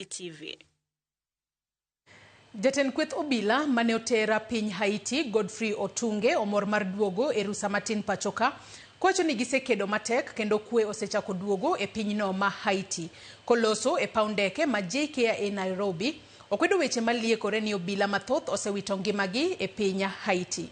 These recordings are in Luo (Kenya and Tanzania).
e TV. Jatend kweth obila mane otera piny Haiti, Godfrey Otunge omor mar duogo e rusa matin pachoka kowacho ni gisekedo matek kendo kwe osechako duogo e pinyno ma Haiti. Koloso e paw ndeke ma JKIA Nairobi, okwedo weche maliekore ni obila mathoth osewito ngimagi e piny Haiti.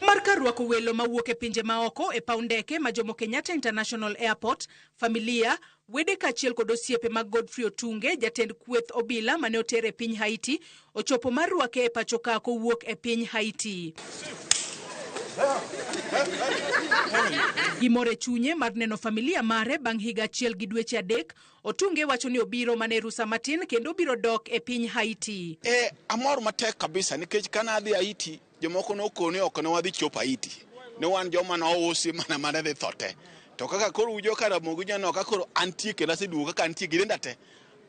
Mar kar rwako welo mawuok e pinje maoko e paw ndeke ma Jomo Kenyatta International Airport, familia Wede kaachiel kod osiepe mag Godfrey Otunge, jatend kweth obila mane oter e piny Haiti, ochopo mar rwake e pacho ka kowuok e piny Haiti. Gimor e chunye mar neno familia mare bang' higa achiel gi dweche adek. Otunge wacho ni obiro mana e rusa matin kendo obiro dok e piny Haiti. E, amor matek kabisa nikech kane adhi Haiti Jomoko nokono ni ok ne wadhi chop Haiti. Ne wan joma nousi mana mana dhi tho te. To kaka koro ujo ka Ramogi nyanok ka koro antie kendo aseduogo kaka antie gi denda te.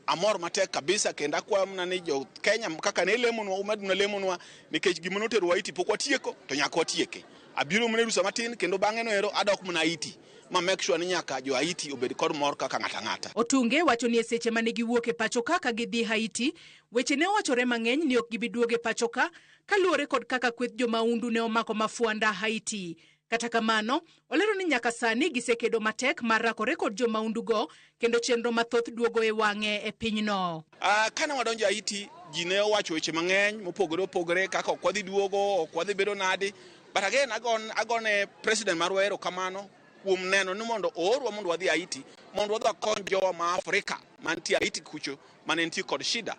Amor matek kabisa kendo akwayo mana ni jo Kenya kaka ne lemonwa umed na lemonwa nikech gima notero Haiti pok watieko to nyaka watieke. Abiro mana e rusa matin kendo bang'e no ero adok mana Haiti ma make sure ni nyaka jo Haiti obed kod mor kaka ng'ato ang'ata. Otunge wacho ni e seche mane giwuok e pachoka ka gidhi Haiti, weche ne owachore mang'eny ni ok gibi duogo e pachoka kaluwore kod kaka kweth jomaundu ne omako mafwanda Haiti. Kata kamano, olero ni nyaka sani gisekedo matek mar rakore kod jomaundugo kendo chenro mathoth duogo e wang'e e pinyno. Ah, kane wadonjo Haiti, ji ne owacho weche mang'eny mopogore opogore kaka ok wadhi duogo, ok wadhi bedo nadi. But again, agon, agone president marwa erokamano kuom neno ni mondo oorwa mondo wadhi Haiti mondo wadhi wakony jowa ma Afrika mantie Haiti kucho mane nitie kod shida.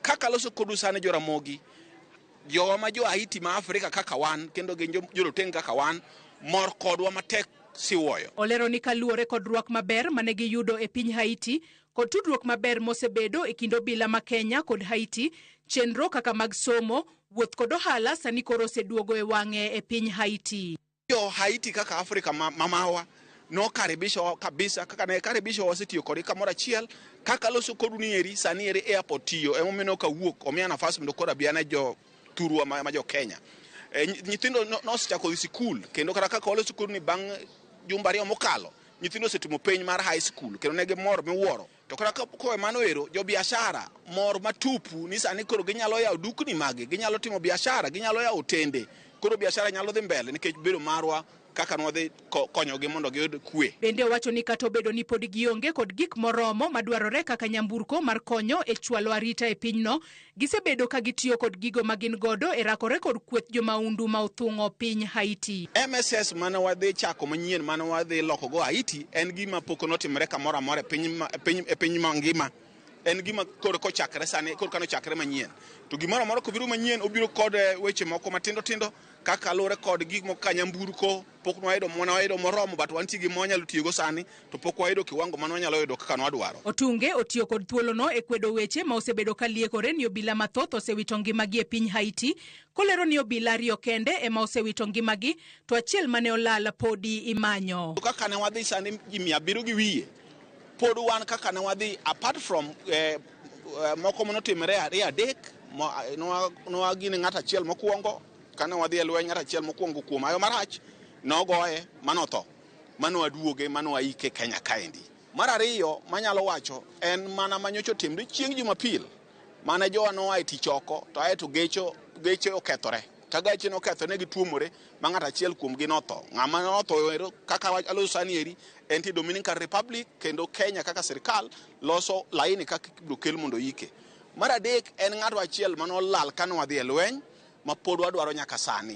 Kaka loso kodu sani jo Ramogi, jowa ma jo Haiti ma Afrika kaka wan kendo gin jo- joroteng' kaka wan mor kodwa matek siwoyo. Olero ni kaluwore kod rwak maber mane giyudo e piny Haiti kod tudruok maber mosebedo e kind obila ma Kenya kod Haiti, chenro kaka mag somo, wuoth kod ohala sani koro oseduogo e wang'e e piny Haiti. jo Haiti kaka Afrika ma- mamawa nokaribisho kabisa kaka ne karibisho wasetiyo kodi kamoro achiel kaka aloso kodu ni eri sani eri airport tiyo emomiyo ne ok awuok omiya nafas mondo koro abi ane jo thurwa ma, ma jo Kenya e, nyi- nyithindo no- nosechako dhi sikul kendo kata kaka waloso kodu ni bang' jumbe ariyo mokalo nyithindo osetimo penj mar high school kendo ne gimor miwuoro To kata kowe mano ero, jo biashara mor matupu ni sani koro ginyalo yawo dukni magi, ginyalo timo biashara, ginyalo yawo otende. Koro biashara nyalo dhi mbele nikech bedo marwa kaka nwadhi konyogi mondo giyud kwe. Bende owacho ni kata obedo ni pod gionge kod gik moromo madwarore kaka nyamburko mar konyo e chwalo arita e pinyno, Gisebedo ka gitiyo kod gigo ma gin godo e rakore kod kweth jomaundu ma othung'o piny Haiti. MSS mane wadhi chako manyien mane wadhi lokogo Haiti en gima pok notimore kamoro amora e piny, e piny, e piny mangima. En gima koro kochakre sani, koro kano chakre manyien. To gimoro amora kobiro manyien, obiro kod eh, weche moko matindo tindo Kaka lure kod gik moko ka nyamburko pok nwayudo mwana wayudo moromo but wantie gi mwanyalo tiyogo sani to pok wayudo kiwango mane wanyalo yudo kaka nwadwaro. Otunge otiyo kod thuolono e kwedo weche ma osebedo ka liekore ni obila mathoth osewito ngimagi e piny Haiti, kolero ni obila ariyo kende ema osewito ngimagi to achiel mane olal podi imanyo. To kaka ne wadhi sani ji mia abiriyo gi wiye pod wan kaka ne wadhi apart from eh, Eh, moko mane otimore ariyo adek eh, nwagine ng'at achiel mokwongo kane wadhi e lweny ng'at achiel mokwongo kuom ayo marach nogoye manotho mano aduoge mano aike kenya kaendi mar ariyo manyalo wacho en mana manyocha otimre chieng' jumapil mane jowa noa e tich oko to aye to gecho geche okethore ka gache nokethore ne gituomore ma ng'at achiel kuomgi notho ng'ama notho kaka aloso sani eri en ti dominican republic kendo kenya kaka sirikal loso laini kaka ibiro kel mondo yike. Mar adek en ng'ato achiel mane olal kane wadhi e lweny mapod wadwaro nyaka sani.